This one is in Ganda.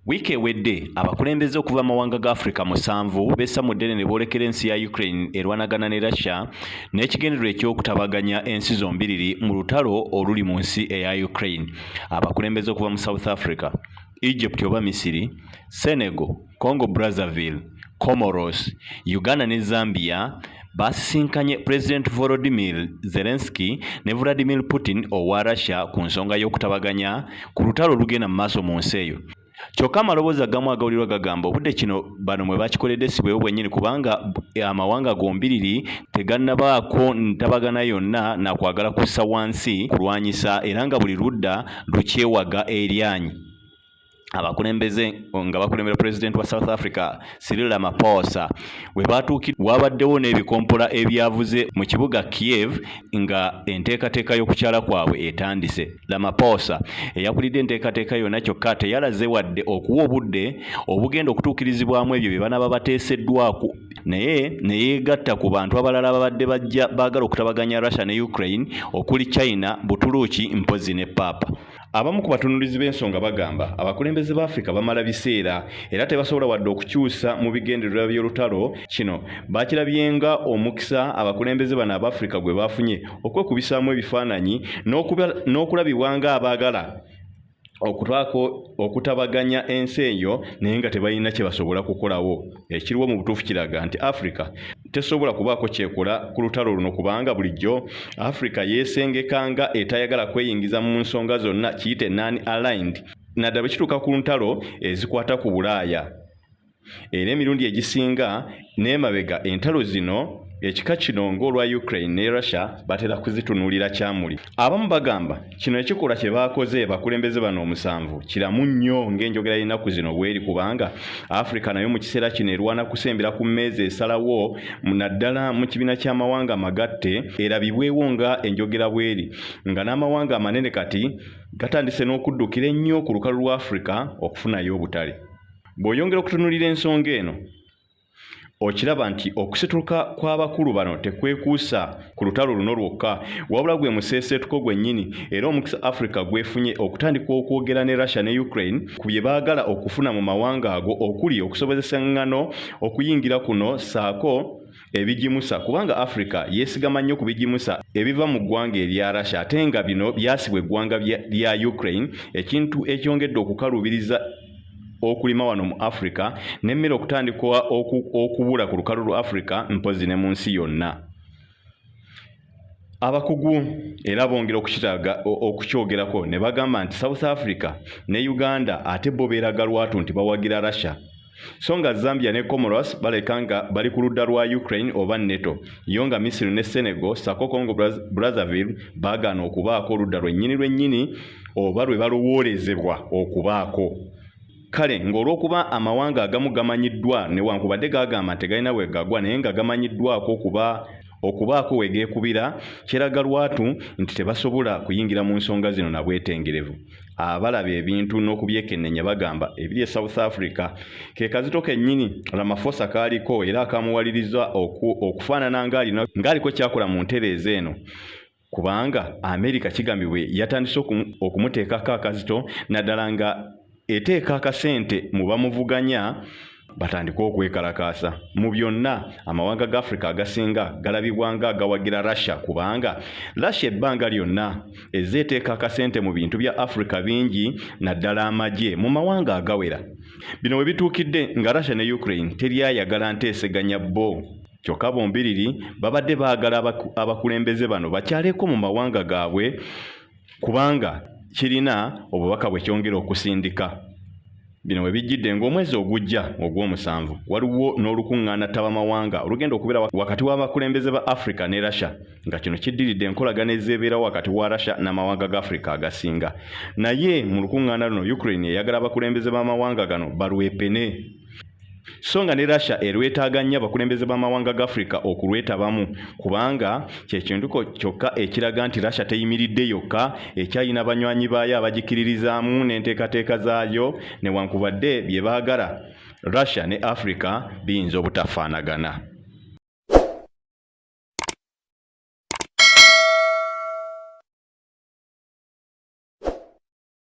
wiiki ewedde abakulembeze okuva amawanga ga africa musanvu bessa mu ddene ne boolekera ensi ya ukraine erwanagana ne russia n'ekigendererwa ekyokutabaganya ensi zombiriri mu lutalo oluli mu nsi eya ukraine abakulembeze okuva mu south africa Egypt oba Misiri, Senegal, Congo Brazzaville, Comoros, Uganda ne Zambia baasisinkanye Pulezidenti Volodymyr Zelensky ne Vladimir Putin owa Russia ku nsonga y'okutabaganya ku lutalo olugenda mu maaso mu nsi eyo. Kyokka amaloboozi agamu agawulirwa gagamba obudde kino bano mwe bakikoledde si bwebwo bwennyini kubanga amawanga gombiriri tegannabaako ntabagana yonna na kwagala kussa wansi kulwanyisa era nga buli ludda lukyewaga eryanyi abakulembeze nga bakulembera pulezidenti wa south africa sirila mapoosa we baatuukid waabaddewo n'ebikompola ebyavuze mu kibuga kiev nga enteekateeka y'okukyala kwabwe etandise lamapoosa eyakulidde enteekateeka yonna kyokka teyalaze wadde okuwa obudde obugenda okutuukirizibwamu ebyo bye banaaba bateeseddwaku naye ne yeegatta ku bantu abalala babadde bajja baagala okutabaganya russia ne ukraine okuli china butuluuki mpozi ne paapa abamu ku batunulizi b'ensonga bagamba abakulembeze ba afrika bamala biseera era tebasobola wadde okukyusa mu bigendererwa by'olutalo kino bakirabyenga omukisa abakulembeze bano aba afrika gwe baafunye okwekubisaamu ebifaananyi n'okulabibwa ng'abaagala okubaako okutabaganya ensi eyo naye nga tebalina kye basobola kukolawo ekiriwo mu butuufu kiraga nti africa tesobola kubaako kyekola ku lutalo luno kubanga bulijjo africa yeesengeka nga etayagala kweyingiza mu nsonga zonna kiyite non aligned naddala bwe kituuka ku ntalo ezikwata ku bulaaya era emirundi egisinga n'emabega entalo zino ekika kino ng'olwa ukraine ne russia batera kuzitunuulira kyamuli abamu bagamba kino ekikolwa kye baakoze bakulembeze bano omusanvu kiramu nnyo ng'enjogera y'ennaku zino bweri kubanga africa nayo mu kiseera kino erwana kusembera ku mmeezi esalawo naddala mu kibiina ky'amawanga amagatte erabibwewo nga enjogera bweri nga n'amawanga amanene kati gatandise n'okuddukira ennyo ku lukalu lwa africa okufunayo obutale Bw'oyongera okutunulira ensonga eno, okiraba nti okusituka kw'abakulu bano tekwekuusa ku lutalo luno lwokka wabula gwe museeseetuko gwennyini era omukisa africa gwefunye okutandika okwogera ne russia ne ukraine ku bye baagala okufuna mu mawanga ago okuli okusobozesa ng'ano okuyingira kuno ssaako ebigimusa kubanga Africa yesigama nnyo ku bigimusa ebiva mu ggwanga erya Russia ate nga bino byasibwa eggwanga lya Ukraine ekintu ekyongedde okukaluubiriza okulima wano mu Africa n'emmere okutandikwa okubula ku lukalu lwa Africa mpozi ne mu nsi yonna. Abakugu era bongera okukiraga okukyogerako ne bagamba nti South Africa ne Uganda ate bo beeraga lwatu nti bawagira Russia so nga Zambia ne Comoros baleka nga bali ku ludda lwa Ukraine oba NATO yo nga Misiri ne Senegal sako Congo Brazzaville baagaana okubaako oludda lwennyini lwennyini oba lwe balowoolezebwa okubaako. Kale ng'olw'okuba amawanga agamu gamanyiddwa newankubadde gaagamba nti tegalina we gagwa naye nga gamanyiddwako okuba okubaako we geekubira, kiraga lwatu nti tebasobola kuyingira mu nsonga zino na bwetengerevu. Abalaba ebintu n'okubyekennenya bagamba ebiri e South Africa ke kazito kennyini Ramaphosa k'aliko era akamuwaliriza okufaanana ng'aliko ky'akola mu ntereeza eno kubanga Amerika kigambibwa yatandise okumuteekako akazito naddala nga eteeka akasente mu bamuvuganya batandike okwekalakaasa mu byonna amawanga ga africa agasinga galabibwa nga agawagira russia kubanga russia ebbanga lyonna ezze eteeka akasente mu bintu bya africa bingi naddala amagye mu mawanga agawera bino we bituukidde nga russia ne ukraine teri ayagala nteeseganya bo kyokka bombiriri babadde baagala abakulembeze bano bakyaleko mu mawanga gaabwe kubanga kirina obubaka bwe kyongera okusindika bino we bijjidde ng'omwezi ogujja ogw'omusanvu waliwo n'olukuŋŋaana ttabamawanga olugenda okubeera wakati w'abakulembeze ba africa ne russia nga kino kiddiridde enkolagana ezeebeerawo wakati wa russia n'amawanga ga africa agasinga naye mu lukuŋŋaana luno ukraine eyagala abakulembeze b'amawanga gano balwepene so nga ne Russia erwetaaga nnyo abakulembeze b'amawanga ga Afrika okulwetabamu kubanga kye kintuko kyokka ekiraga nti Russia teyimiridde yokka ekyalina banywanyi baayo abagikiririzaamu n'enteekateeka zaayo newankubadde bye baagala Russia ne Afrika biyinza obutafaanagana.